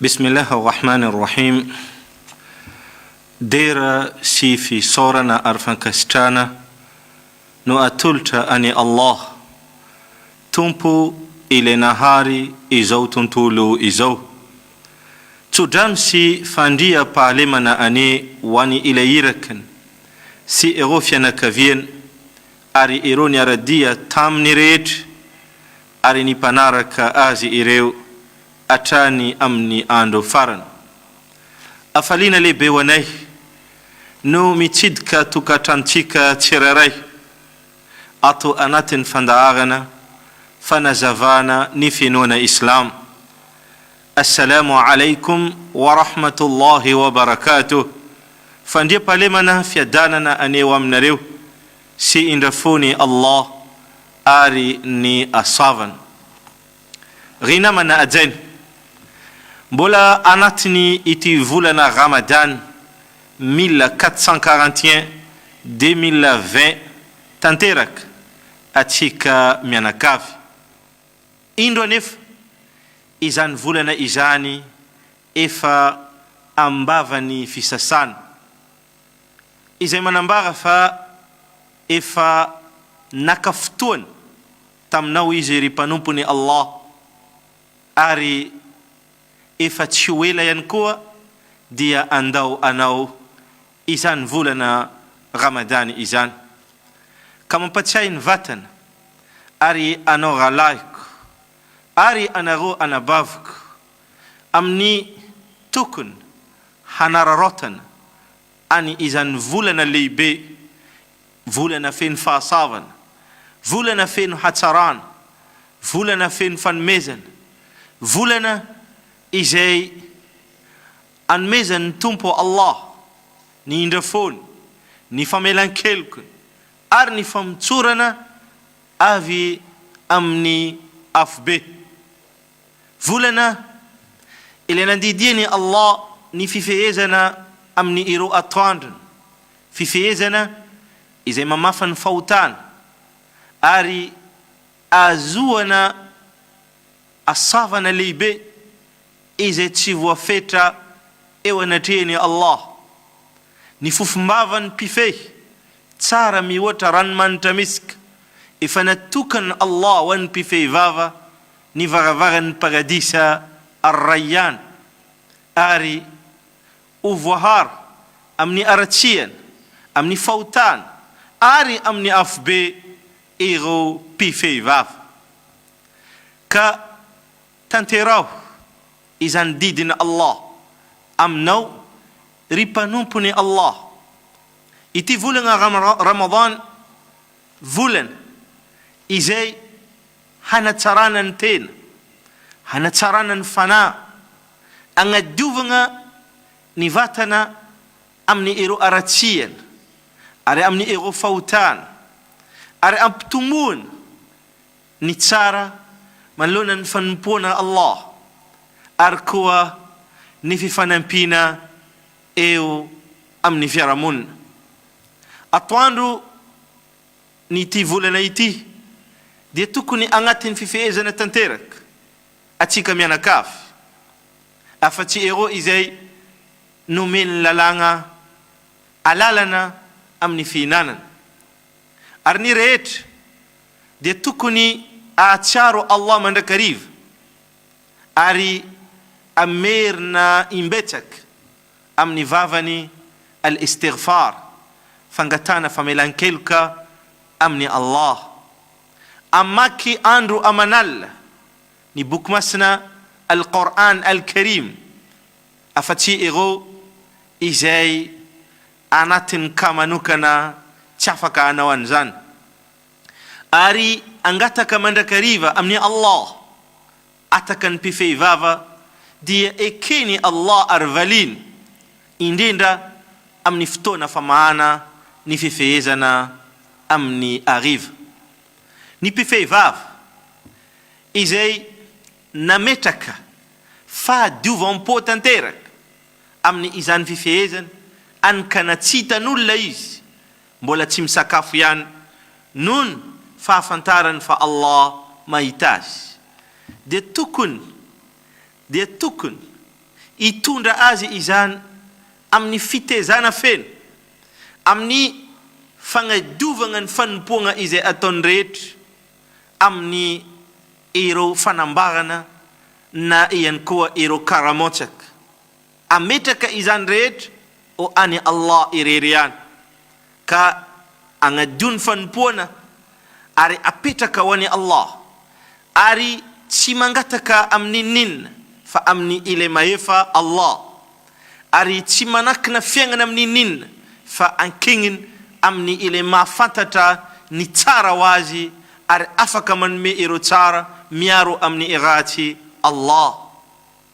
Bismillah Ar-Rahman Ar-Rahim Dera sy fisaorana ary fankasitrahana no atolotra an'i Allah, Tompo Ilay nahary izao tontolo izao. Tso-drano sy fandriam-pahalemana anie ho an'i Ilay Irakiny sy ireo fianakaviany ary ireo niara-dia taminy rehetra ary ny mpanaraka azy ireo hatrany amin'ny andro farany. Hafaliana lehibe ho anay no mitsidika tokantranontsika tsirairay ato anatin'ny fandaharana fanazavana ny finoana Islamo. Assalamu Alaikum wa Rahmatullahi wa Barakatuh, Fandriampahalemana, fiadanana anie ho aminareo. Sy indra fo ny Allah ary ny Asavany. Ry namana ajaina! Mbola anatiny ity volana Ramadan mille quatre cent quarante et un deux mille vingt tanteraka atsika mianakavy. Indro anefa izany volana izany efa ambavany fisasana. izay manambara fa efa naka fotoana taminao izy ry mpanompony Allah ary efa tsy ho ela ihany koa dia andao anao izany volana Ramadany izany ka mampatsiahy ny vatana ary anao rahalahiko ary anareo anabaviko amin'ny tokony hanararaotana an'i izany volana lehibe, volana feno fahasavana, volana feno hatsarana, volana feno fanomezana, volana izay anomezan'ny Tompo Allah ny indrafony, ny famelan-kelokony ary ny famotsorana avy amin'ny afobe. Volana, ilay nandidian' i Allah ny fifehezana amin' ny ireo atoandrony, fifehezana izay mamafa ny fahotana, ary ahazoana asavana lehibe izay tsy voafetra eo anatrehan' i Allah. Ny fofom-bavan' ny mpifehy tsara mihoatra ranomanitra misk, efa natokan' Allah ho an' ny mpifehy vava ny varavaran'ny Paradisa Ar-Rayyan ary ho voaharo amin'ny haratsiana, amin'ny fahotana ary amin'ny afobe ireo mpifehy vava. Ka tanteraho izany didin'i Allah aminao, ry mpanompon'i Allah. Ity volana Ramadhan, volana izay hanatsarana ny tena, hanatsarana ny fanahy, agnadiovagna ny vatana amin'ny ireo haratsiana ary amin'ny ireo fahotana, ary ampitomboana ny tsara manoloana ny fanompoana Allah ary koa ny fifanampiana eo amin'ny fiarahamonina. Atoandro ny ity volana ity dia tokony agnatin'ny fifehezana tanteraka atsika mianakavy afa tsy ero izay nomen'ny lalàgna alalana amin'ny fihinanana ary ny rehetra dia tokony ahatsiaro Allah mandrakariva ary amerina imbetsaka amin'ny vavany al-istighfar, fangatahana famelan-keloka amin'i Allah. Amaky andro aman'alina ny Boky Masina Al-Qour'an Al-Karim afa-tsy ireo izay anatin'ny cas manokana tsy afaka hanao an'izany. Ary angataka mandrakariva amin'i Allah. Ataka ny mpifehy vava dia eken'i Allah ary valiany, indrindra amin'ny fotoana famahana ny fifehezana amin'ny hariva. Ny mpifehy vava izay nametraka fahadiovam-po tanteraka amin' izany fifehezana any ka natsitan' olona izy Mbola tsy misakafo ihany nohon fahafantarany fa Allah mahita azy dia tokony dia tokony hitondra azy izany amin'ny fitezana feno amin'ny fagnadiovagna ny fanompoagna izay ataony rehetra amin'ny ireo fanambarana na ihany koa ireo karamotsaka. Ametraka izany rehetra ho an'i Allah irery ihany, ka agnadio ny fanompoana ary apetraka ho an'i Allah, ary tsy mangataka amin'inon'inona fa amin'i Ilay Mahefa, Allah, ary tsy manakina fiaignana amin'inon'inona fa ankegniny amin'i Ilay Mahafantatra ny tsara ho azy ary afaka manome ireo tsara miaro amin'ny ratsy, Allah.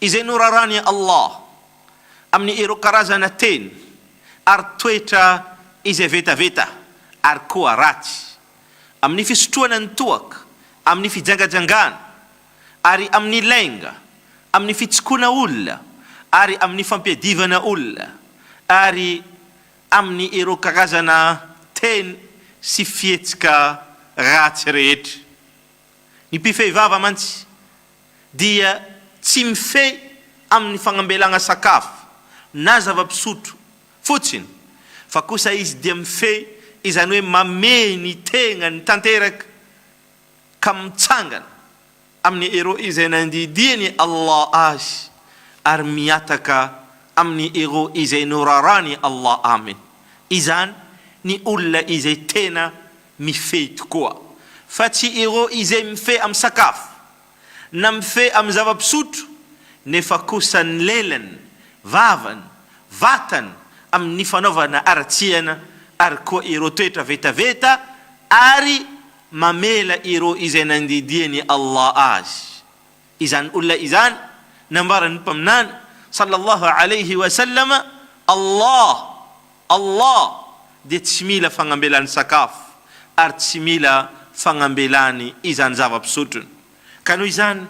izay noraràn'i Allah amin'ny ireo karazana teny ary toetra izay vetaveta ary koa ratsy, amin'ny fisotroana ny toaka, amin'ny fijangajangana, ary amin'ny lainga, amin'ny fitsikona olona, ary amin'ny fampiadivana olona, ary amin'ny ireo karazana teny sy fihetsika ratsy rehetra. Ny mpifehy vava mantsy dia tsy mifehy amin'ny fagnambelagna sakafo na zava-pisotro fotsiny fa kosa izy dia mifehy izany hoe mamehy ny tegnany tanteraka ka mitsangana amin'ny ero izay nandidian'i Allah azy ary mihataka amin'ny ero izay noraràn'i Allah aminy izany ny olona izay tena Mifehy tokoa, fa tsy ireo izay mifehy amin'ny sakafo, na mifehy amin'ny zava-pisotro, nefa kosa ny lelany, vavany, vatany amin'ny fanaovana haratsiana, ary koa ireo toetra vetaveta, ary mamela ireo izay nandidian'i Allah azy, Izany olona izany, nambaran'ny Mpaminany, sallallahu alaihi wa sallam, Allah, Allah, dia tsy mila fagnambelany sakafo, ary tsy mila fagnambelany izany zava-pisotrony. Ka noho izany,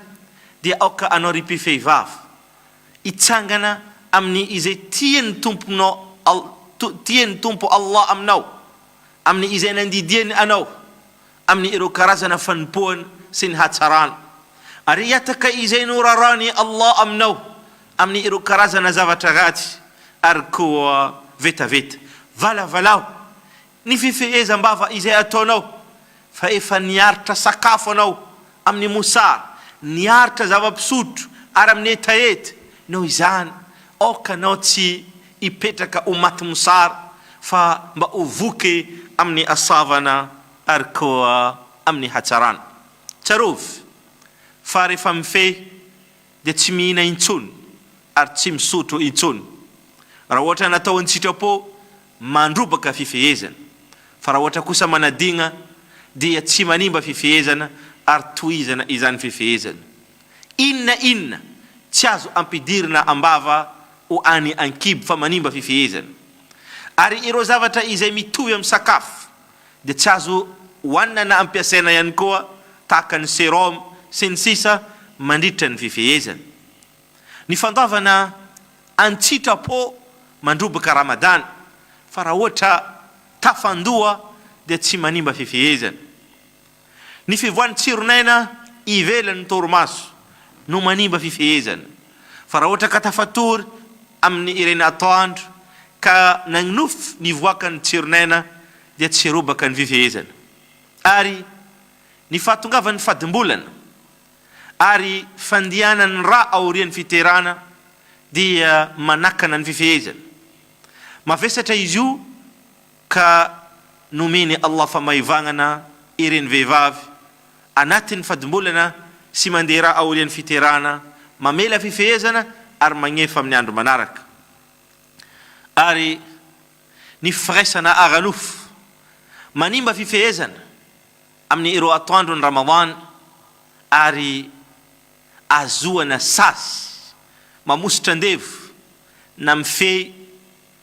dia aoka anao ry mpifehivavy, hitsangana amin'ny izay tian'ny Tomponao All, tian'ny Tompo Allah aminao, amin'ny izay nandidiany anao, amin'ny ireo karazana fanompoana sy ny hatsarana, ary hihataka izay noraràn'i Allah aminao amin'ny ireo karazana zavatra ratsy, ary koa vetaveta valavalaho ny fifehezam-bava izay ataonao, fa efa niaritra sakafo anao amin'ny mosar, ny aritra zava-pisotro ary amin'ny hetaheta, noho izany aoka anao tsy hipetraka ho maty mosar fa mba ho voky amin'ny asavana ary koa amin'ny hatsarana. Tsarovy fa rehefa mifehy dia tsy mihina intsony ary tsy misotro intsony raha ohatra natao an-tsitrapo mandrobaka fifehezana, fa raha ohatra kosa manadigna dia tsy manimba fifehezana ary tohizana izany fifehezana. Inona inona tsy azo ampidirina am-bava ho an'ny ankibo fa manimba fifehezana. Ary ireo zavatra izay mitovy amin'ny sakafo dia tsy azo hohanina na ampiasaina ihany koa tahaka ny serum sy ny sisa mandritra ny fifehezana. Ny fandoavana an-tsitrapo mandroboka Ramadana fa raha ohatra tafandoha dia tsy manimba fifehezana. Ny fivoahan'ny tsiron'aina ivelan'ny torimaso no manimba fifehezana, fa raha ohatra ka tafatory amin'ny ireny atoandro ka nagnofy nivoaka ny tsiron'aina dia tsy robaka ny fifehezana ary ny fahatongavan'ny fadim-bolana ary fandianan'ny ra aorian'ny fiterana dia manakana ny fifehezana. Mavesatra izy io. Ka nomen'i Allah famaivagnana ireny vehivavy anatin'ny fadimbolana sy mandeha raha aorian'ny fiterahana, mamela fifehezana ary magnefa amin'ny andro manaraka. Ary ny firaisana ara-nofo manimba fifehezana amin'ny ireo atoandron'ny Ramadan ary ahazoana sazy mamositra andevo na mifehy,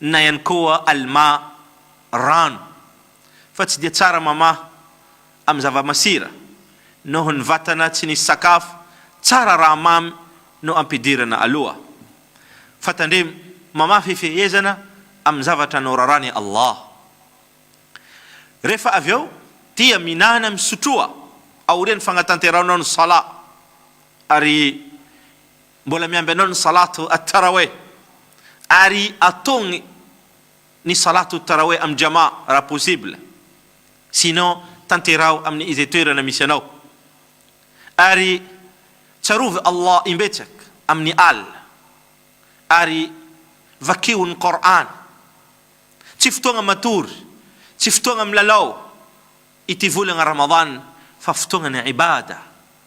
Na ihany koa Almà rano fa tsy dia tsara mamaha amin'ny zava-masira noho ny vatana tsy nisy sakafo tsara raha mamy no ampidirana aloha. Fa tandremo mamaha fifehezana amin'ny zavatra noraran'i Allah. Rehefa avy eo dia mihinana misotroa aorian'ny fagnatanterahanao ny Salat ary. Mbola miamby anao ny salato at-taraweh ary atogny ny salato taraweh am jama raha possible, sinon tanteraho amin izay toerana misy anao, ary tsarovy Allah imbetsak amin ny al, ary vakio ny Qour'an, tsy fotoagna matory, tsy fotoagna milalao ity volagna Ramadan fa fotoagna ny ibada.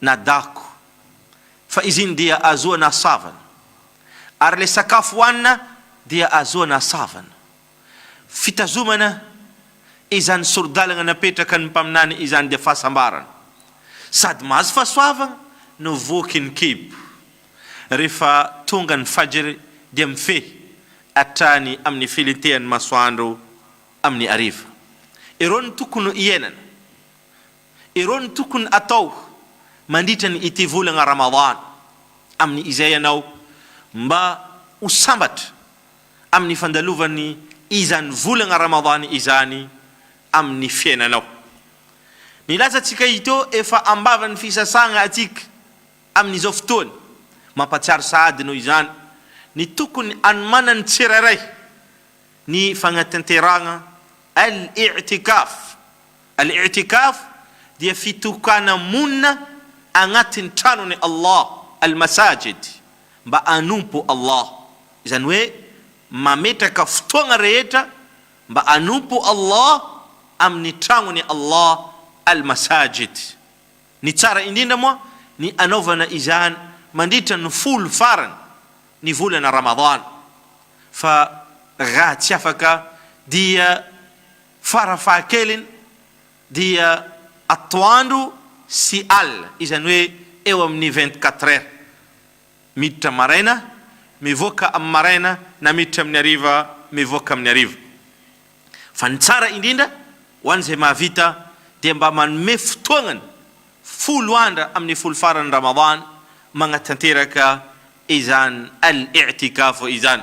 na dago, fa izy iny dia azoana asavana, ary ilay sakafo hohanina dia azoana asavana. Fitazomana izany sori-dalana napetraka ny mpaminany izany dia fahasambarana, sady mahazo fahasoavana no voky ny kibo. Rehefa tonga ny Fajr dia mifehy hatrany amin'ny filentehan'ny masoandro amin'ny hariva. Ireo no tokony hiainana. Ireo no tokony hatao mandritra ny ity volana Ramadhan amin'ny izay ianao mba ho sambatra amin'ny fandalovan'ny izany volana Ramadhan izany amin'ny fiainanao. Nilaza antsika hito efa ambavan'ny fisasagna antsika amin'izao fotoany. Mampatsiaro sahady noho izany ny tokony anomanan'ny tsirairay ny fagnatanterahagna Al-I'tikaf. Al-I'tikaf dia fitokana monina agnatin'ny tranon'i Allah, Al-Masajid, mba hanompo Allah. Izany hoe mametraka fotoagna rehetra mba hanompo Allah amin'ny tragnon'i Allah, Al-Masajid. Ny tsara indrindra moa ny anaovana izany mandritra ny folo farany ny volana Ramadhan, fa raha tsy afaka dia. Farafahakeliny dia atoandro sy alina, izany hoe eo amin'ny vingt-quatre heures, miditra maraina, mivoaka amin'ny maraina na miditra amin'ny hariva, mivoaka amin'ny hariva. Fa ny tsara indrindra ho an'izay mahavita dia mba manome fotoagnany folo andra amin'ny folo faran'ny Ramadan magnatanteraka izany Al-I'tikaf izany.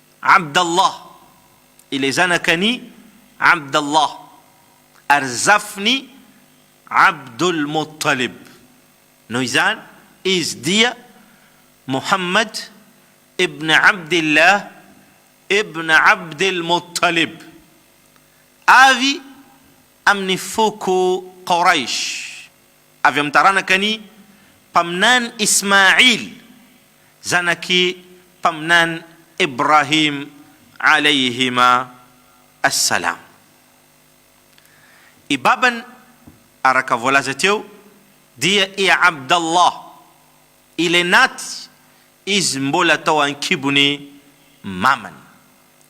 Abd Allah, ilay zanakan' i Abd Allah, ary zafin' i Abdul Muttalib. Noho izany, izy dia Muhammad ibn Abd Allah ibn Abd al-Muttalib, avy amin' ny foko Qoraysh. avy amin'ny taranaka ny mpaminany Ismail zanak'i mpaminany Ibrahim alayhima as-salam. I babany araka voalaza teo dia i Abdallah, ilay naty izy mbola tao ankibon'i mamany.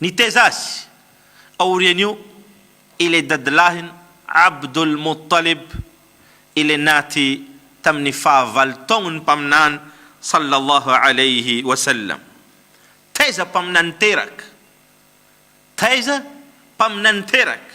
Nitaiza azy aorian'io ilay dadilahiny Abdul Muttalib ilay naty tamin'ny fahavalo taon'ny Mpaminany sallallahu alayhi wa sallam. Taiza mpaminany teraka! Taiza mpaminany teraka!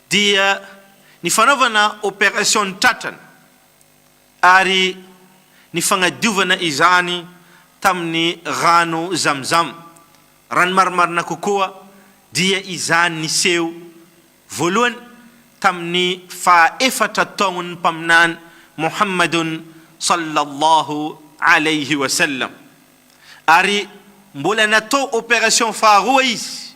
dia ny fanaovana opération-n'ny tratrany ary ny fagnadiovana izany tamin'ny rano Zamzam, raha ny marimarina kokoa dia izany niseho voalohany tamin'ny faha efatra taon'ny Mpaminany Mohamadun Sallallahu Alaihi Wasallam, ary mbola natao opération faharoa izy,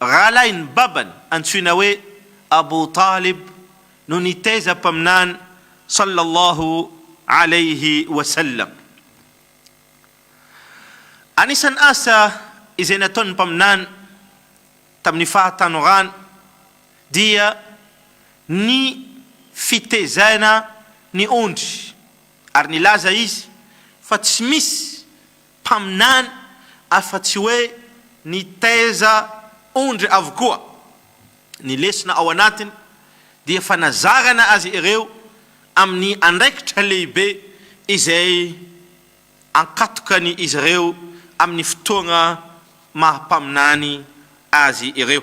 Rahalahin'ny babany antsoina hoe Abu Talib no nitaiza Mpaminany sallallahu alaihi wa sallam. Anisan'ny asa izay nataon'ny Mpaminany tamin'ny fahatanorany dia ny fitaizana ny ondry ary nilaza izy fa tsy misy mpaminany afa-tsy hoe nitaiza ondry avokoa. Ny lesona ao anatiny dia fanazarana azy ireo amin'ny andraikitra lehibe izay ankatokan'izy ireo amin'ny fotoana maha-mpaminany azy ireo.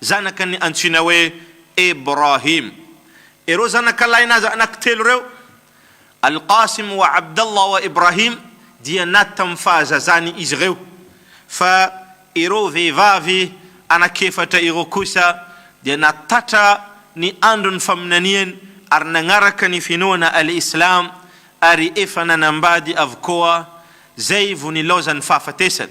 Zanaka ny antsoina hoe Ibrahim. Ireo zanaka lahin'azy anankitelo ireo, Al-Qasim wa Abdallah wa Ibrahim, dia naty tamin'ny fahazazany izy ireo, fa ireo vehivavy anankiefatra ireo kosa dia natattra ny andron'ny faminaniany ary nanaraka ny finoana Al-Islam ary efa nanambady avokoa zay vo nilaozan'ny fahafatesany.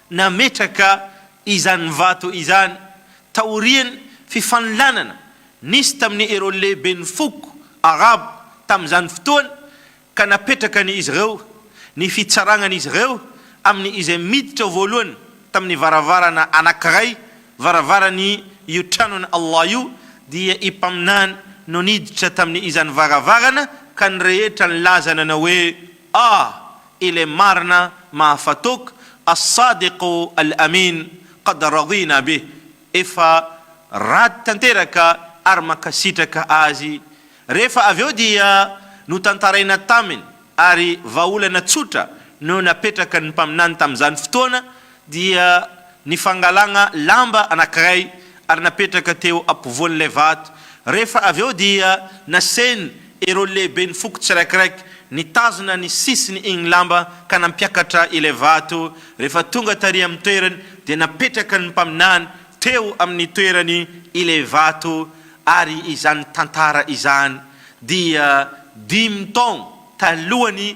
Nametraka izany vato izany taorian'ny fifanolanana nisy tamin'ny ireo lehiben'ny foko Arabo tamin'izany fotoana ka napetraka ny izy ireo ny fitsarangan'izy ireo amin'ny izay miditra voalohany tamin'ny varavarana anankiray varavaran'ny io tranon'i Allah io dia i Mpaminany no niditra tamin'ny izany varavarana ka ny rehetra nilaza nanao hoe A! Ilay marina mahafatok As-Sadiq Al-Amin Qad Radina Bih Efa rad tanteraka ary mankasitraka azy Rehefa avy eo dia notantaraina taminy ary vahaolana tsotra no napetrakan'ny Mpaminany tamin'izany fotoana dia ny fangalana lamba anankiray ary napetraka teo ampovoan'ilay vato, rehefa avy eo dia nasainy ireo lehiben'ny foko tsirakiraiky nitazona ny sisiny iny lamba ka nampiakatra ilay vato, rehefa tonga tary amin'ny toerany dia napetraka ny mpaminany teo amin'ny toerany ilay vato, ary izany tantara izany dia dimy taogno talohan'ny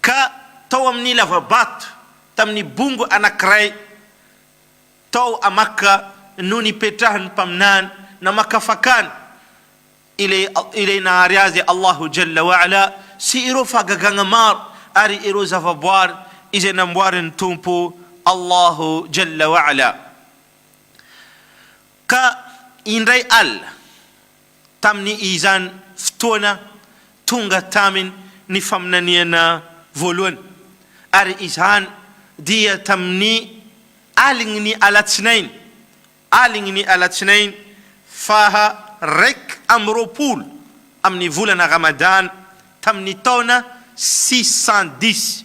ka tao amin'ny lava-bato tamin'ny bongo anankiray tao Amaka no nipetrahan'ny Mpaminany namakafakany ilay ilay nahary azy Allahu Jalla wa Ala sy ireo fahagagana maro ary ireo zavaboary izay namboarin'ny Tompo Allahu Jalla wa Ala ka indray alina tamin'ny izany fotoana tonga taminy ny faminaniana voalohany, ary izany dia tamin'ny alin'ny alatsinainy, alin'ny alatsinainy faha raika amby roapolo amin'ny volana Ramadana tamin'ny taona six cent dix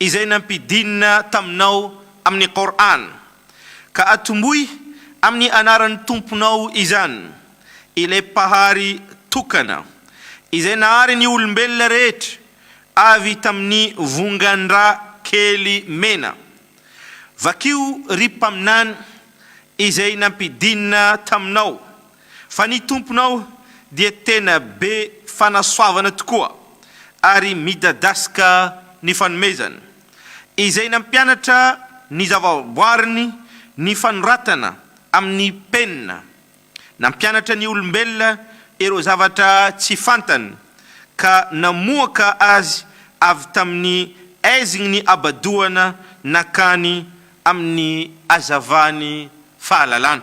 izay nampidinina taminao amin'ny Qur'an, ka atomboy amin'ny anaran'ny Tomponao izany, Ilay Mpahary tokana, izay nahary ny olombelona rehetra avy tamin'ny vongan-drà kely mena. Vakio, ry Mpaminany, izay nampidinina taminao Fa ny Tomponao dia tena be fanasoavana tokoa ary midadasika ny fanomezany. Izay nampianatra ny zavaboariny ny fanoratana amin'ny penina, nampianatra ny olombelona ireo zavatra tsy fantany ka namoaka azy avy tamin'ny aizign'ny habadoana nankany amin'ny hazavany fahalalana.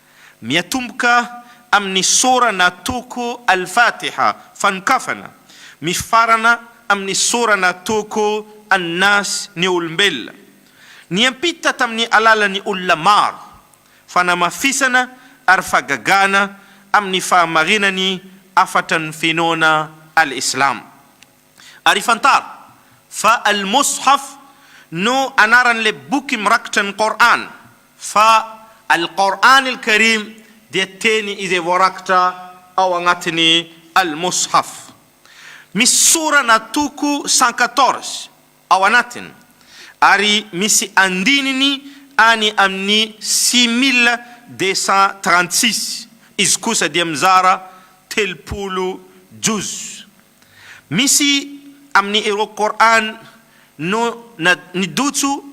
Miatomboka amin'ny sora na toko Al-Fatiha, fanokafana, mifarana amin'ny sora na toko An-Nas, ny olombelona. Niampita tamin'ny alalan'ny olona maro, fanamafisana ary fagagana amin'ny fahamarinan'ny hafatra ny finoana Al-Islam. Ary fantaro fa Al-Mushaf no anaran'ilay boky mirakitra ny Qour'an, fa Al-Qour'an Al-Karim dia teny izay voarakitra ao agnatin'ny Al-Mushaf. Misy sora na toko cent quatorze ao anatiny, ary misy andininy any amin'ny six mille deux cent trente six, izy kosa dia mizara telopolo juz. Misy amin'ny ireo Qur'an no na nidotso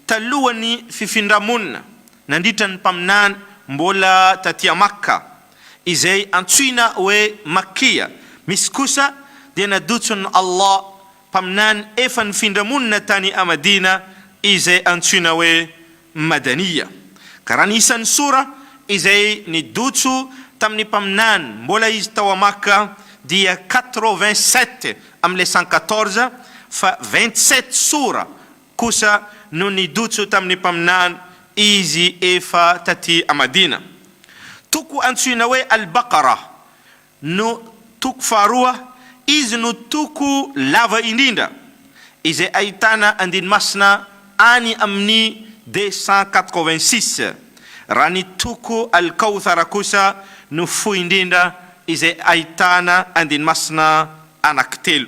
talohan'ny fifindra-monina nandritra ny Mpaminany mbola taty à Makka, izay antsoina hoe Makkiya, misy kosa dia nadotson'i Allah Mpaminany efa nifindra-monina tany à Madina izay antsoina hoe Madaniya, karana isan'ny sora izay nidotso tamin'ny mpaminany mbola izy tao Makka, dia quatre-vingt-sept amin'ny les cent quatorze, fa vingt-sept sora kosa no nidotso tamin'ny mpaminany izy efa taty Madina. Toko antsoina hoe Al-Baqarah No toko faharoa, izy no toko lava indrindra, izay ahitana andiny masina any amin'ny deux cent quatre-vingt-six, raha ny toko Al-Kawthara kosa no fohy indrindra izay ahitana andiny masina anankitelo.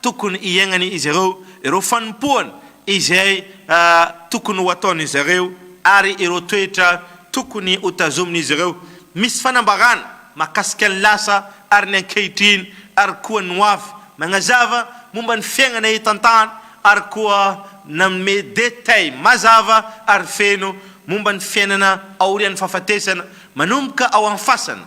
tokony hiaignany izy ireo, ireo fanompoany izay tokony ho ataon'izy ireo ary ireo toetra tokony ho tazomin'izy ireo. Misy fanambarana mahakasika ny lasa ary ny ankehitriny ary koa ny ho avy. Magnazava momba ny fiaignana eto an-tany ary koa nanome detail mazava ary feno momba ny fiainana aorian'ny fahafatesana, manomboka ao an'ny fasana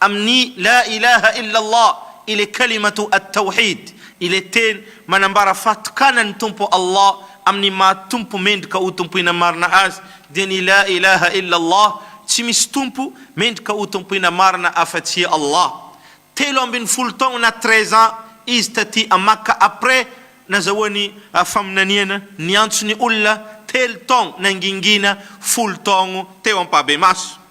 Amin'ny La ilaha illa Allah, ile kalimatu at-tawhid, ile teny manambara fahatokanan'ny Tompo Allah amin'ny maha Tompo mendrika ho tompoina marina Azy, dia ny La ilaha illa Allah, tsy misy Tompo mendrika ho tompoina marina afa-tsy Allah. Telo ambin'ny folo taogna na treize ans izy taty à Makka après nazahoany faminaniana, niantso ny olona telo taogno nangingina folo taogno teo ampahbemaso.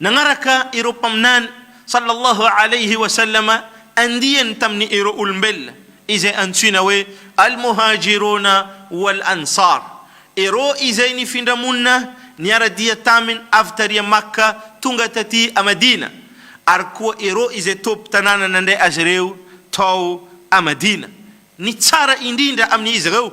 Nanaraka ireo Mpaminany, Sallallahu Alayhi wa Sallam, andiany tamin' ireo olombelona izay antsoina hoe Al-Muhajiruna wal-Ansar, ireo izay nifindra monina niara-dia taminy avy tary a Makka tonga taty a Madina, ary koa ireo izay tobim-tanàna nandray azy ireo tao a Madina. Ny tsara indrindra amin' izy ireo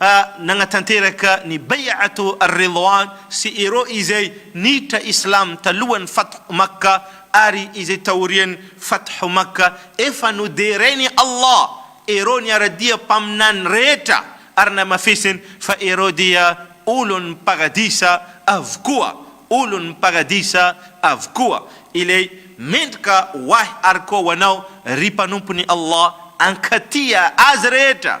a nagnatanteraka ny Bay'atu ar-Ridwan sy ireo izay niditra Islam talohan'ny Fath Makka ary izay taorian'ny Fath Makka, efa noderain'i Allah ireo niara-dia mpaminany rehetra ary namafisiny fa ireo dia olon'ny Paradisa avokoa, olon'ny Paradisa avokoa, ilay mendrika ho ahy ary koa ho anao ry mpanompon'i Allah, ankatia azy rehetra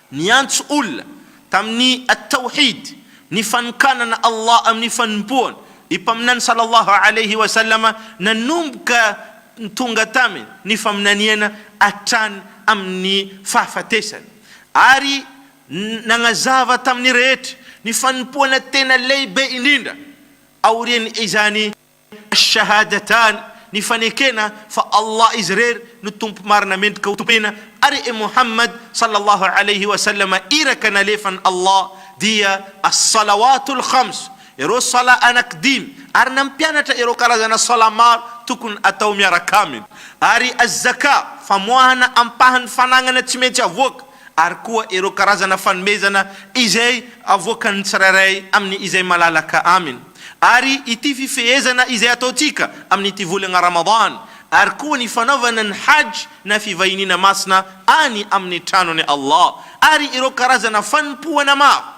Niantso olona tamin'ny At-Tawhid, ny fanokanana Allah amin'ny fanompoana, ny Mpaminany sallallahu alayhi wa sallam nanomboka tonga taminy ny faminaniana hatrany amin'ny fahafatesany, ary nagnazava tamin'ny rehetra ny fanompoana tena lehibe indrindra aorian'izany, Ash-Shahadatan, ny fanekena fa Allah Izy irery no Tompo marina mendrika hotompoina ary i Mohammad sallallahu alayhi wa sallam iraka nalefan'i Allah, dia As-Salawatul Khams, ireo Salat anankidimy, ary nampianatra ireo karazana Salat maro tokony atao miaraka aminy, ary Az-Zakah, famoahana ampahan'ny fanagnana tsy maintsy avoaka, ary koa ireo karazana fanomezana izay avoakan'ny tsirairay amin'ny izay malalaka aminy, ary ity fifehezana izay ataontsika amin'ity volana Ramadan, ary koa ny fanaovana ny Hajj na fivahiniana masina any amin'ny tranon'i Allah, ary ireo karazana fanompoana maro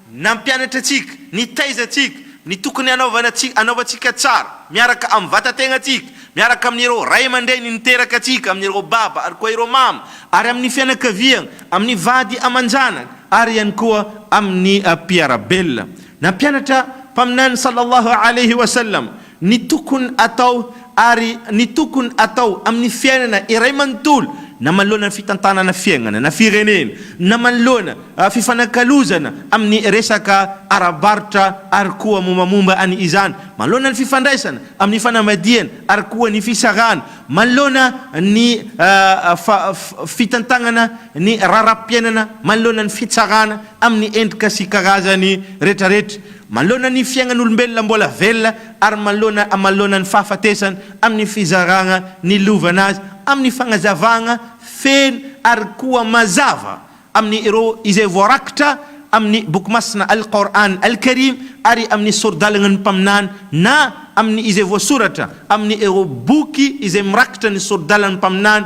Nampianatra antsika, nitaiza antsika ny tokony hanaovana sy hanaovantsika tsara miaraka amin'ny vatan-tegnantsika, miaraka amin'ireo ray aman-dreny niteraka antsika, amin'ireo baba ary koa ireo mama, ary amin'ny fianakaviagna, amin'ny vady aman-janaka, ary ihany koa amin'ny mpiara-belona. Nampianatra Mpaminany Sallallahu Alaihi Wasallam. ny tokony atao ary ny tokony atao amin'ny fiainana iray manontolo na manoloana ny fitantanana fiaignana na firenena na manoloana fifanakalozana amin'ny resaka ara-barotra ary koa mombamomba an' izany manoloana ny fifandraisana amin'ny fanambadiana ary koa ny fisarahana manoloana ny fitantagnana ny raharaham-piainana manoloana ny fitsarana amin'ny endrika sy karazany retraretra, manoloana ny fiainan'olombelona mbola velona ary manoloana amaloana ny fahafatesana, amin'ny fizarana ny lovana azy, amin'ny fagnazavana feno ary koa mazava amin'ny ireo izay voarakitra amin'ny Boky Masina Al-Qour'an Al-Karim ary amin'ny Sori-dalagna ny Mpaminany na amin'ny izay voasoratra amin'ny ireo boky izay mirakitra ny Sori-dalan'ny Mpaminany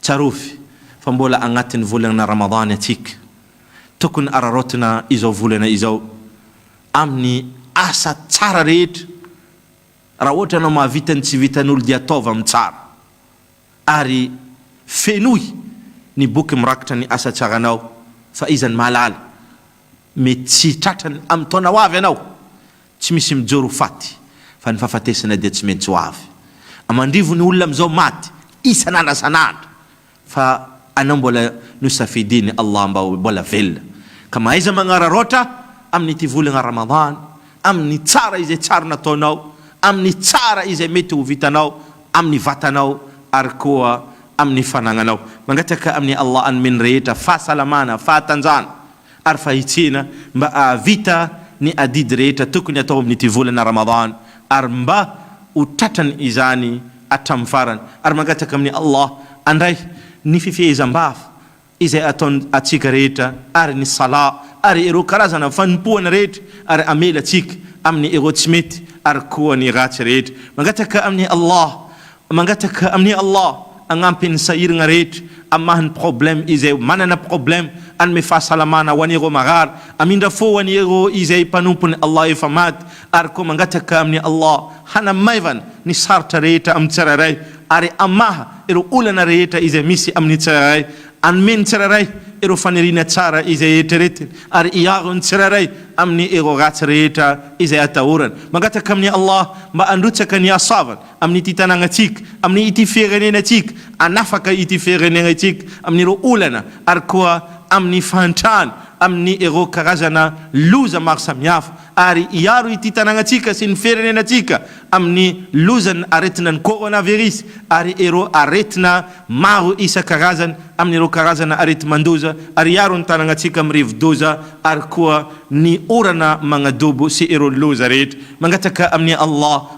Tsarovy fa mbola agnatin'ny volagna Ramadany antsika. Tokony araraotina izao volana izao amin'ny asa tsara rehetra. Raha ohatra ianao mahavita ny tsy vitan'olo dia ataovy amin'ny tsara. Ary fenoy ny boky mirakitra ny asa tsaranao fa iza no mahalala Mety tsy hitratra ny amin'ny taona ho avy ianao. Tsy misy mijoro ho faty, fa ny fahafatesana dia tsy maintsy ho avy. Aman-drivo ny olona amin'izao maty isan'andra san'andra, fa anao mbola nosafidian'i Allah mba ho mbola velona, ka mahaiza magnararaotra amin'ity volagna Ramadan, amin'ny tsara izay tsara nataonao, amin'ny tsara izay mety ho vitanao amin'ny vatanao ary koa amin'ny fanagnanao. Mangataka amin'i Allah hanome ny rehetra fahasalamana, fahatanjahana, ary fahitsina mba hahavita ny adidy rehetra tokony hatao amin'ity volana Ramadan ary mba ho tratrany izany hatramin'ny farany ary mangataka amin'i Allah andray ny fifehezam-bava izay ataon atsika rehetra ary ny Salah ary ireo karazana fanompoana rehetra ary hamela atsika amin'ny ireo tsy mety ary koa ny ratsy rehetra mangataka amin'i Allah Mangataka amin'i Allah hagnampy ny sahiragna rehetra amin'ny maha ny problème izay manana problème, hanome fahasalamana ho an'ireo marary, hamindra fo ho an'ireo izay mpanompon'i Allah efa maty, ary koa mangataka amin'i Allah hanamaivana ny sarotra rehetra amin'ny tsirairay ary hamaha ireo olana rehetra izay misy amin'ny tsirairay, hanome ny tsirairay ireo faniriana tsara izay eritreretiny ary hiaro ny tsirairay amin'ny ireo ratsy rehetra izay atahorany. Mangataka amin'i Allah mba handrotsaka ny hasoavany. amin'ity tanànantsika, amin'ny ity firenenantsika, hanafaka ity firenenantsika amin'ireo olana ary koa amin'ny fahantrana amin'ny ireo karazana loza maro samihafa ary hiaro ity tanànantsika sy ny firenenantsika amin'ny lozan'ny aretina ny coronavirus ary ireo aretina maro isan-karazany amin'ireo karazana areti-mandoza ary hiaro ny tanànantsika amin'ny rivodoza ary koa ny orana magnadobo sy ireo loza rehetra mangataka amin'i Allah